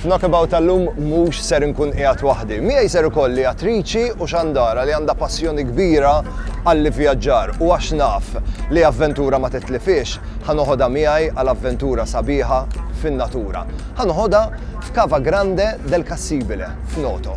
F'Knockabout tal-lum mhux ser inkun qiegħed waħdi. Miegħi ser ikolli attriċi u xandara li għandha passjoni kbira għall-ivvjaġġar u għax naf li avventura ma titlifhiex, ħa noħodha miegħi għal avventura sabiħa fin-natura. Ħa noħodha f'Cava Grande del Cassibile, f'Noto.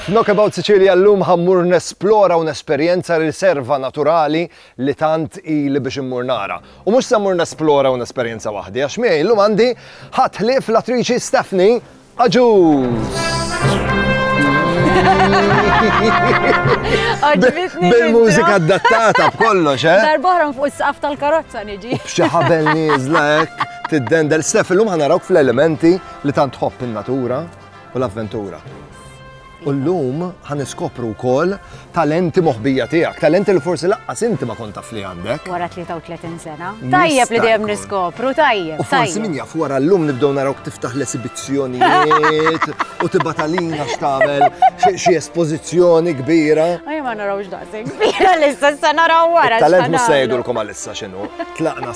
F'Knockabout Sicilia llum ħa mmur nesplora u nesperjenza riserva naturali li tant ili biex immur nara. U mhux se mmur nesplora u nesperjenza waħdi għax miegħi llum għandi ħadd ħlief l-attriċi Stephanie Agius! Bil-mużika adattata b'kollox, eh? Darbohra fuq is-saqaf tal-karozza niġi. B'xi ħabel nieżla hekk, tiddendel. Stef, illum ħanarawk fl-elementi li tant tħobb in-natura. u l-avventura. U l-lum ħan iskopru wkoll talenti moħbija tiegħek, talenti li forsi laqqas inti ma kont taf li għandek. Wara 33 sena. Tajjeb li dejjem niskopru, tajjeb. U forsi min jaf wara l-lum nibdew narawk tiftaħ l-esibizzjonijiet u tibatalina x'tagħmel xi espożizzjoni kbira. Ejja ma narawx daqsek kbira l-issa sa naraw wara. Talent mhux se jgħidulkom għal Sa x'inhu, tlaqna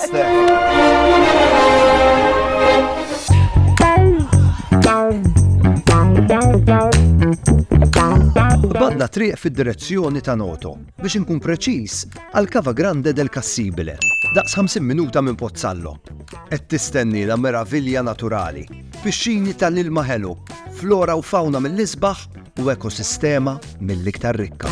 Badna triq fid-direzzjoni ta' Noto, biex inkun preċiż għal Cava Grande del Cassibile, daqs 50 minuta minn Pozzallo. Qed tistenni la meravilja naturali, Pixxini ta' l-ilma ħelu, flora u fawna mill-isbaħ u ekosistema mill-iktar rikka.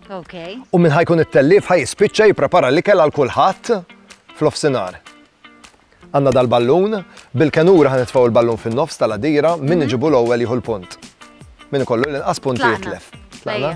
Okay. U minn ħajkun it-tellif ħaj jispiċċa jipprepara l-ikel għal kulħadd fl-ofsinar. Għanna dal-ballun, bil-kenura ħan nitfaw il-ballun fin-nofs tal-adira, minn mhm. iġibu l-ewwel jieħu l-punt. Minn kollu l-inqas punti jitlef. Tlaqna?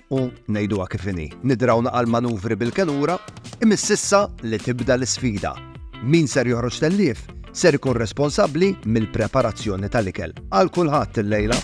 u ngħiduha kif inhi, nidraw naqal manuvri bil-kelura, imiss issa li tibda l-isfida. Min ser joħroġ tellief ser ikun responsabbli mill-preparazzjoni tal-ikel għal kulħadd il-lejla.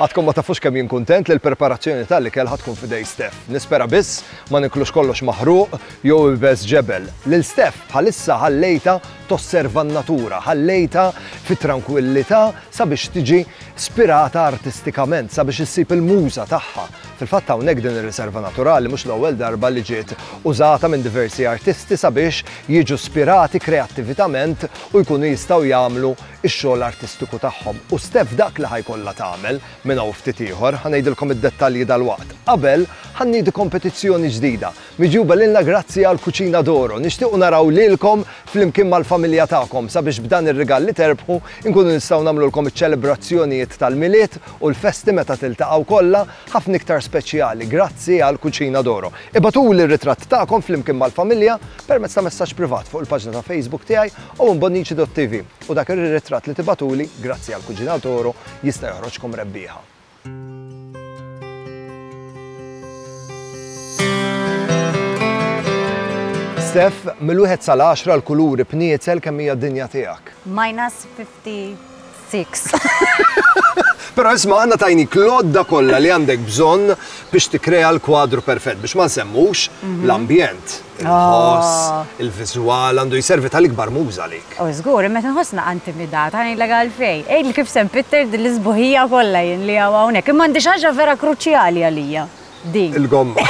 Għadkom ma tafux kemm jien kuntent li l-preparazzjoni tal-ikel ħatkun fidej Steph. Nispera biss ma niklux kollox maħruq jew ibes ġebel. Lil Steph bħalissa ħallejta tosserva n-natura, ħallejta fit trankwillità sabiex tiġi spirata artistikament, sabiex issib il-muża tagħha. Fil-fatt hawnhekk din ir-riserva naturali mhux l-ewwel darba li ġiet użata minn diversi artisti sabiex jiġu spirati kreattivitament u jkunu jistgħu jagħmlu x-xogħol artistiku tagħhom. U Steph dak li ħa jkollha tagħmel minn hawn ftit ieħor, ħa ngħidilkom id-dettalji dalwaqt. Qabel, ħa nniedu kompetizzjoni ġdida Miġjuba lilna grazzi għal Cucina d'Oro. Nixtiequ naraw lilkom flimkien mal-familja tagħkom sabiex b'dan ir-rigal li terbħu nkunu nistgħu nagħmlulkom iċ-ċelebrazzjonijiet tal-Milied u l-festi meta tiltaqgħu kollha ħafna iktar speċjali grazzi għal Cucina d'Oro. Ibagħtuli r-ritratt tagħkom flimkien mal-familja permezz ta' messaġġ privat fuq il-paġna ta' Facebook tiegħi owenbonnici.tv u dak ir-ritratt li tibagħtuli grazzi għal Cucina d'Oro jista' joħroġkom rebbieħa. Steph, mill-wieħed sal-10 l-kuluri b'niezel kemm hija d-dinja tiegħek? Minus 56. Pero isma għanna tajni klodda kollha li għandek bżonn biex tikrea l-kwadru perfett, biex ma nsemmux mhm. l-ambjent. il-ħoss, il-viżwal, għandu jservi tal-ikbar muża għalik. U żgur, imma qed inħossna intimidata, ngħidlek għalfejn. Għidli kif se npitter din l-isbuħija kollha jien li hawn hawnhekk. Imma għandi xi ħaġa vera kruċjali għalija, din. Il-gomma.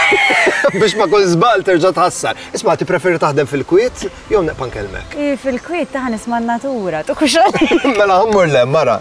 Biex ma' kull żball terġa' tħassar. Isma', tippreferi taħdem fil-kwiet jew neqpa' nkellmek? Fil-kwiet, taħ nisma' n-natura. Mela ħa mmur l-hemm, ara.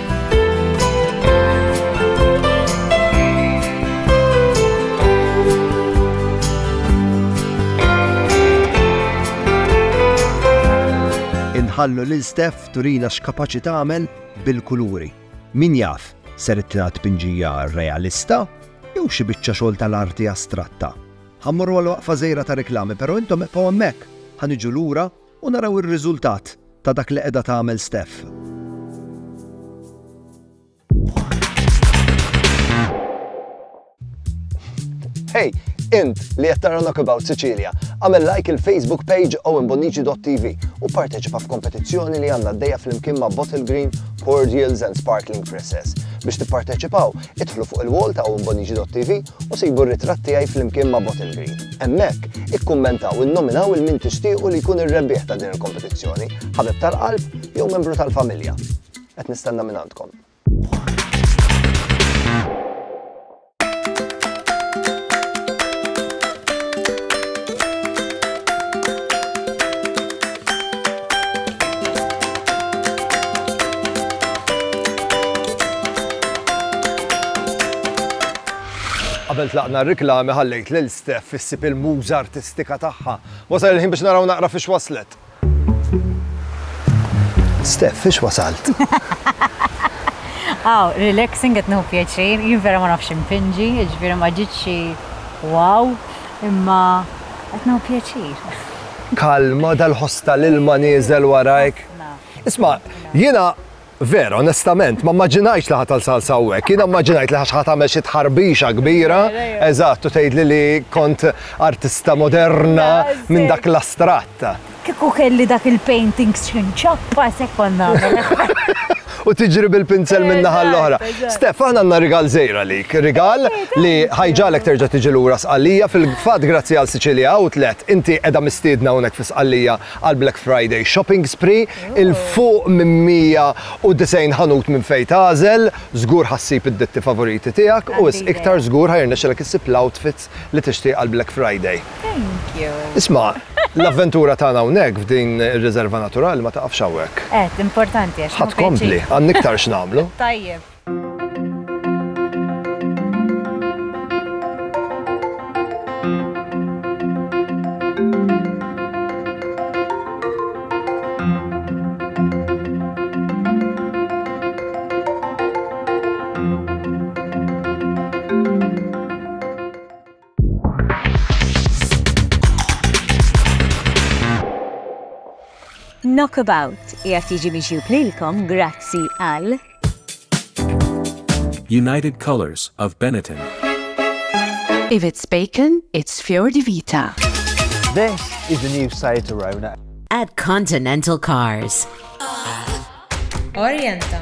Inħallu lil Steph turina x'kapaċi tagħmel bil-kuluri. Min jaf, ser itlina tpinġija realista jew xi biċċa xogħol tal-arti astratta. Ħammorru għal waqfa żejra ta' reklami, però intom eqgħu hemmhekk ħaniġu lura U naraw ir-riżultat ta' dak li qiegħda tagħmel Steph. Hey, int li qed tara Knockabout Sicilia, għamel like il-Facebook page owenbonici.tv u parteċipa f'kompetizzjoni li għandna d-dejja fl-imkien ma' Bottle Green, Cordials and Sparkling Presses. Biex tipparteċipaw, idħlu fuq il-wall ta' owenbonici.tv u sibu r-ritratt tiegħi flimkien ma' Bottle Green. Hemmhekk, ikkummentaw u nnominaw 'il min tixtiequ li jkun ir-rebbieħ ta' din il-kompetizzjoni, ħabib tal-qalb jew membru tal-familja. Qed nistenna minn għandkom. Qabel tlaqna r-riklami ħallejt lil Steph issib il-muża artistika tagħha. Wasal il-ħin biex naraw naqra fiex waslet. Steph, fiex wasalt? Aw, relaxing qed nieħu pjaċir, jien vera ma nafx impinġi, jiġifieri ma ġitx xi wow, imma qed nieħu pjaċir. Kalma, dal-ħoss tal-ilma nieżel warajk. Isma', jiena Vera, onestament, ma mmaġinajx li ħatal salsa hawnhekk. Jiena mmaġinajt li ħax tagħmel xi tħarbixa kbira, eżatt, u tgħidli li kont artista moderna minn dak l-astratt. Kieku kelli dak il-painting x'inċappa se kont nagħmel. u tiġri bil-pinzel minn naħa l-oħra. Stef, aħna għandna rigal żejra lik, rigal li ħajġalek terġa' tiġi lura Sqallija fil-fatt grazzi għal Sicilia Outlet inti qiegħda mistiedna hawnhekk fi Sqallija għal Black Friday Shopping Spree il fuq minn 190 ħanut minn fejn tagħżel, żgur ħassib id-ditti favoriti tiegħek u wisq iktar żgur ħajrnexxilek issib l-outfit post li tixtieq għall-Black Friday. Thank you. Isma', l-avventura tagħna hawnhekk f'din ir-riserva naturali ma taqafx hawnhekk. Għedt, importanti għax. Ħa tkompli, għandna iktar x'nagħmlu. Tajjeb. Knockabout qiegħed jiġi mixjub lilkom grazzi għal United Colors of Benetton. If it's bacon, it's Fior di Vita. This is the new Seat Arona. At Continental Cars. Orienta.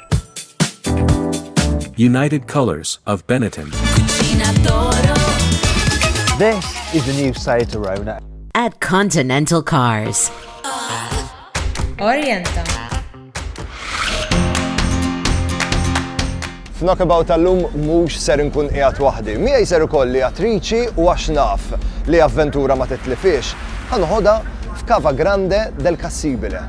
United Colors of Benetton. This is the new side to Rona. At Continental Cars. Orienta. F'Nockabout tal-lum mhux ser nkun qiegħed waħdi. Miegħi ser ikolli attriċi u għax naf li avventura ma titlifiex. Ħanħodha f'Cava Grande del Cassibile.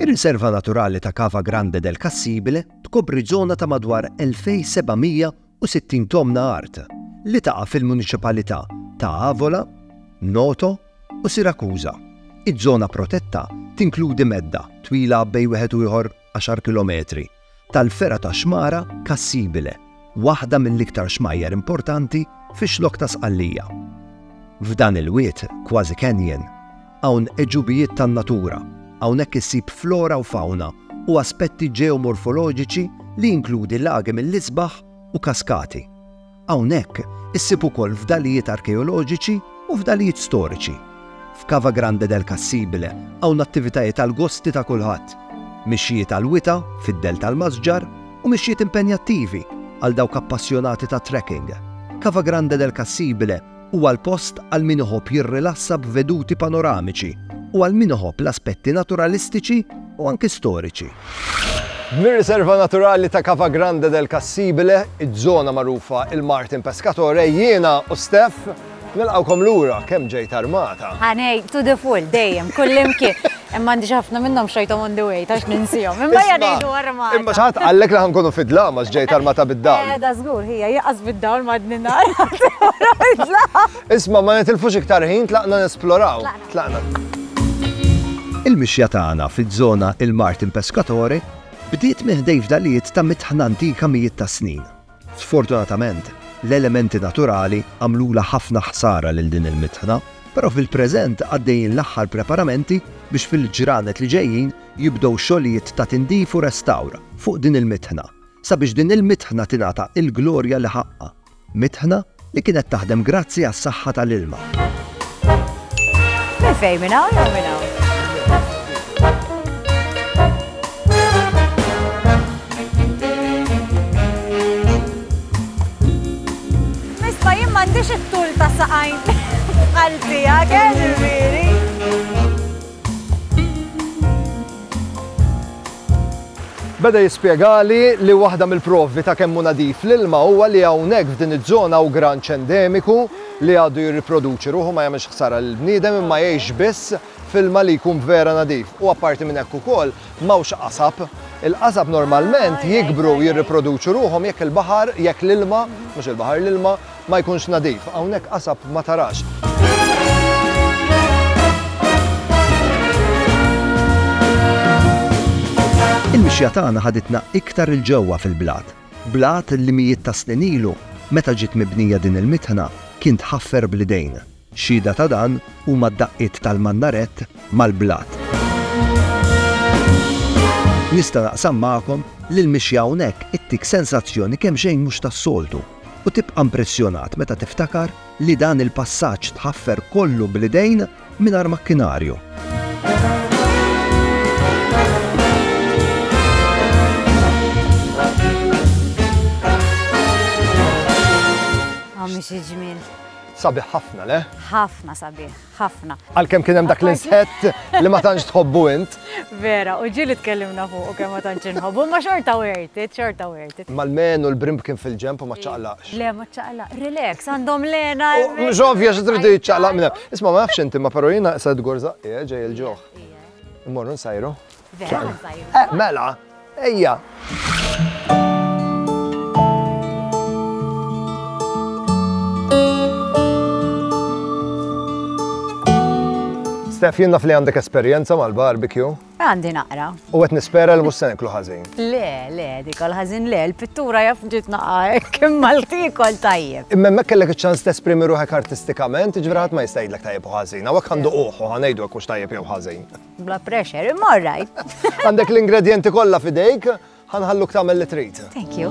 Ir-Riserva Naturali ta' Cava Grande del Cassibile tkopri żona ta' madwar 2,760 tomna art li taqa' fil-muniċipalità ta' Avola, Noto, u Siracusa. Iż-żona protetta tinkludi medda, twila bejn wieħed u ieħor għaxar kilometri, tal-fergħa ta' xmara Cassibile, waħda mill-iktar xmajjar importanti fix-Xlokk ta' Sqallija. F'dan il-wied, kważi canyon, hawn għeġubijiet tan-natura, hawnhekk issib flora u fawna u aspetti ġeomorfoloġiċi li jinkludi lagi mill-isbaħ u kaskati. Hawnhekk issib ukoll fdalijiet arkeoloġiċi u fdalijiet storiċi. F'Cava Grande del Cassibile hawn attivitajiet għal gosti ta' kulħadd, mixjiet għal wita fid-dell tal-masġar u mixjiet impenjattivi għal dawk appassjonati tat-trekking. Cava Grande del Cassibile Huwa l-post għal min iħobb jirrilassa b'veduti panoramiċi u għal min iħobb l-aspetti naturalistiċi u anki storiċi. Mir-Riserva Naturali ta' Cava Grande del Cassibile, iż-żona magħrufa il-Martin Pescatore, jiena u Steph nilqgħukom lura kemm ġejt armata. Ħa ngħid to the full dejjem, kullimkien. Imma għandi xi ħafna minnhom xrajthom on the way, tax ninsihom. Imma hija ngħidu armata. Imma xi ħadd qallek li ħankunu fid-dlam għax ġejt armata bid-dawl. Qiegħda żgur hija jaqas bid-dawl m'għadni nara d-dlam. Isma' ma nitilfux iktar ħin tlaqna nesploraw. Tlaqna. Il-mixja tagħna fiż-żona Il-Martin Pescatore bdiet minn ħdejn fdalijiet ta' mitħna antika mijiet ta' snin. Sfortunatament, l-elementi naturali għamlulha ħafna ħsara lil din il-mitħna, però fil-preżent għaddejjin l-aħħar preparamenti biex fil-ġranet li ġejjin jibdew xogħlijiet ta' tindif u restawr fuq din il-mitħna sabiex din il-mitħna tingħata il-glorja li ħaqqha, mitħna li kienet taħdem grazzi għas-saħħa tal-ilma. Minn fejn, minn hawn jew minn hawn? Misma jien m'għandix it-tul ta' saqajn bħal tiegħek, eh, Beda jispjegali li waħda mill-provi ta' kemm hu nadif l-ilma huwa li hawnhekk f'din iż-żona hawn granċ endemiku li għadu jirriproduċi ruħu, ma jagħmilx ħsara lill-bniedem imma jgħix biss f'ilma li jkun vera nadif. U apparti minn hekk ukoll m'hawnx qasab. Il-qasab normalment jikbru u jirriproduċu ruħhom jekk il-baħar, jekk l-ilma, mhux il-baħar, l-ilma, ma jkunx nadif, hawnhekk qasab ma tarax. Il-mixja tagħna ħaditna iktar 'il ġewwa fil-blat, blat li mijiet ta' snin ilu, meta ġiet mibnija din il-mitħna, kien tħaffer bl-idejn. Xhieda ta' dan huma d-daqqiet tal-mannarett mal-blat. Nista' naqsam magħkom li l-mixja hawnhekk ittik sensazzjoni kemxejn mhux tas-soltu u tibqa' mpressjonat meta tiftakar li dan il-passaġġ tħaffer kollu bl-idejn mingħajr makkinarju. Sabiħ ħafna, le? Ħafna sabiħ, ħafna. Għalkemm kien hemm dak l-insett li ma tantx tħobbu int. Vera, u ġieli tkellimna fuq kemm ma tantx inħobbu, ma xorta wertit, xorta wertit. Mal-men u l-brimb kien fil-ġemp u ma ċaqlaqx. Le, ma ċaqlaq, relax, għandhom lena. Mhux ovvja xi tridu jiċċaqlaq minn Isma' ma nafx inti ma però jiena se tgorżaq ġej il-ġuħ. Immorru nsajru. Eh, mela, ejja. Stef, jien naf li għandek esperjenza mal-barbecue. Għandi naqra. U għet nispera li mussen iklu ħazin. Le, le, dik għal-ħazin le, l-pittura jaf ġit naqaħek, kim mal-tikol tajjeb. Imma mek kellek ċans t-esprimi ruħek artistikament, ġviraħat ma jistajdlek tajjeb u ħazin, għawek għandu uħu, għanajdu għakux tajjeb jew ħazin. Bla pressure, imma rajt. Għandek l-ingredienti kollha fidejk, ħanħalluk tagħmel li trid. Thank you.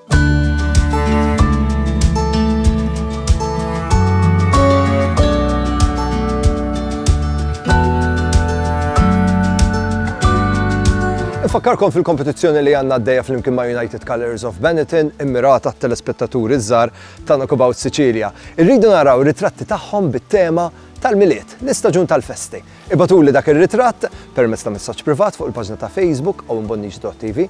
Fakkarkom fil-kompetizzjoni li għanna d-deja fl-imkien ma' United Colors of Benetton immirata telespettaturi zzar ta' Knockabout Sicilia. Irridu naraw ritratti tagħhom bit-tema tal-miliet, l-istaġun tal-festi. Ibatu li dak ir-ritratt permezz ta' messaġġ privat fuq il-paġna ta' Facebook u mbonnix.tv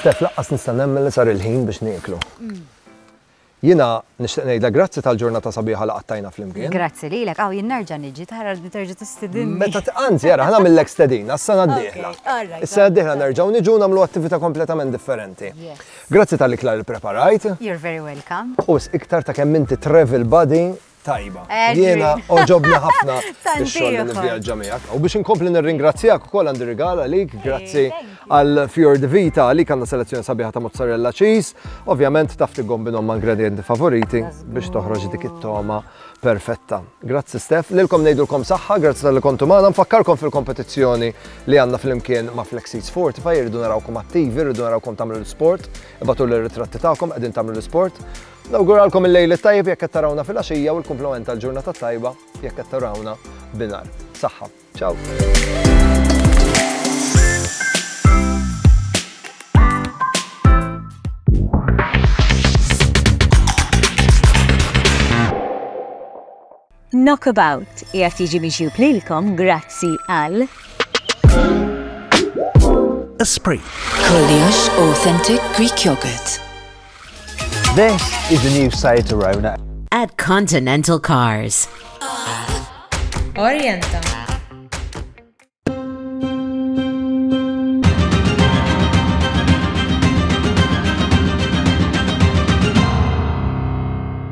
Steph laqqas nista' nemmen li sar il-ħin biex nieklu. Jiena nixtieq ngħidlek grazzi tal-ġurnata sabiħa li qattajna flimkien. Grazzi lilek, aw jien nerġa' niġi tara li terġa' tistidinni. Meta anzi ara ħa nagħmillek stedina s-sena d-dieħla. Is-sena d-dieħla nerġgħu niġu u nagħmlu attività kompletament differenti. Grazzi tal-ikla li ppreparajt. You're very welcome. U wisq iktar ta' kemm inti travel buddy tajba. Jiena oġobni ħafna ix-xogħol li nivvjaġġa miegħek. U biex inkompli nirringrazzjak ukoll għandi rigal għalik, grazzi għal Fior de Vita għalik għandna selezzjoni sabiħa ta' mozzarella cheese. Ovvjament taf tiggombinhom ma' ingredienti favoriti biex toħroġ dik it-toma perfetta. Grazzi Stef, lilkom ngħidulkom saħħa, grazzi tal-li kontu magħna, nfakkarkom fil-kompetizzjoni li għandna fl-imkien ma' Flexit Sport, fa' irridu narawkom attivi, irridu narawkom tagħmlu l-sport, ibatu l-ritratti tagħkom qegħdin tagħmlu l-sport. Nawguralkom il-lejl it-tajjeb jekk qed tarawna filgħaxija u l-kumplament tal-ġurnata t-tajba jekk qed tarawna binhar. Saħħa. Ciao. Knockabout qiegħed jiġi miġjub lilkom grazzi għal. Esprit. Kollox authentic Greek yogurt. This is the new Seat Arona. At Continental Cars. Orienta.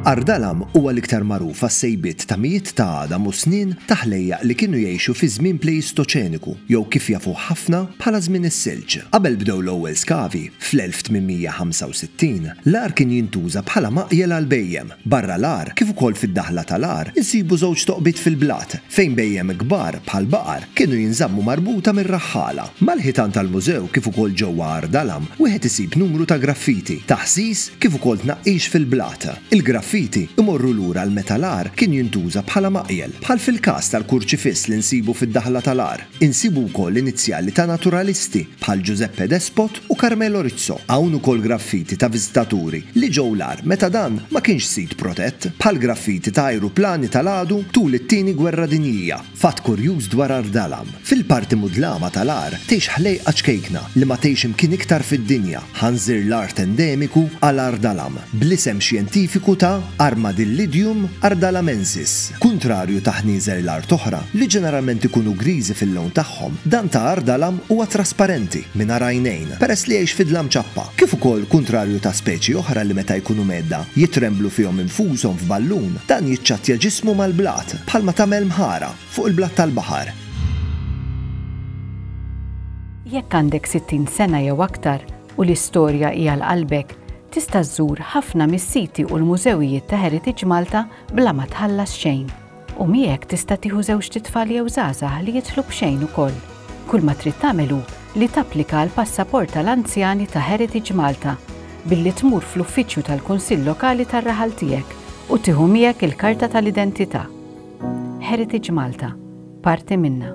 Ardalam huwa l-iktar magħruf għas-sejbiet ta' mijiet ta' għadam u snien ta' ħlejjaq li kienu jgħixu fiż-żmien Plejistoċeniku, jew kif jafuh ħafna bħala żmien is-Silġ. Qabel bdew l-ewwel skavi, fl-1865, l-għar kien jintuża bħala maqjel għall-bhejjem. Barra l-għar, kif ukoll fid-daħla tal-għar, insibu żewġ toqbiet fil-blat, fejn bhejjem kbar, bħal baqar, kienu jinżammu marbuta mir-raħħala. Mal-ħitan tal-mużew kif ukoll ġewwa Għar Dalam, wieħed isib numru ta' graffiti, taħsis kif ukoll tnaqqix fil-blat. Il-graffiti imorru lura għal meta l-għar kien jintuża bħala maqjel, bħal fil-każ tal-kurċifiss li nsibu fid-daħla tal-għar. Insibu wkoll inizjali ta' naturalisti bħal Giuseppe Despot u Carmelo Rizzo. Hawn ukoll graffiti ta' viżitaturi li ġew l-għar meta dan ma kienx sit protett, bħal graffiti ta' ajruplani tal-għadu tul it-Tieni Gwerra Dinjija. Fatt kurjuż dwar Għar Dalam, fil-parti mudlama tal-għar tgħix ħlejqa ċkejkna li ma tgħix imkien iktar fid-dinja. Ħanżir l-art endemiku għal Ardalam, bl-isem xjentifiku ta' Armadillidium ardalamensis. Kuntrarju ta' ħnieżer l-art oħra, li ġeneralment ikunu griżi fil-lewn tagħhom, dan ta' Ardalam huwa trasparenti, mingħajr għajnejn, peress li jgħix fidla mċappa. Kif ukoll, kuntrarju ta' speċi oħra li meta jkunu mgħedda, jitremblu fihom infushom f'ballun, dan jiċċattja ġismu mal-blat, bħalma tagħmel mħara. Fuq il-blat tal-baħar. Jekk għandek 60 sena jew aktar u l-istorja hi għal qalbek, tista' żżur ħafna mis-siti u l-mużewijiet ta' Heritage Malta bla ma tħallas xejn. U miegħek tista' tieħu żewġt itfal jew żgħażagħ li jidħlu b'xejn ukoll. Kull ma trid tagħmel hu li tapplika għal passaport tal-anzjani ta' Heritage Malta billi tmur fl-uffiċċju tal-Kunsill Lokali tar-raħal tiegħek u tieħu miegħek il-karta tal-identità. Heritage Malta, parti minnha.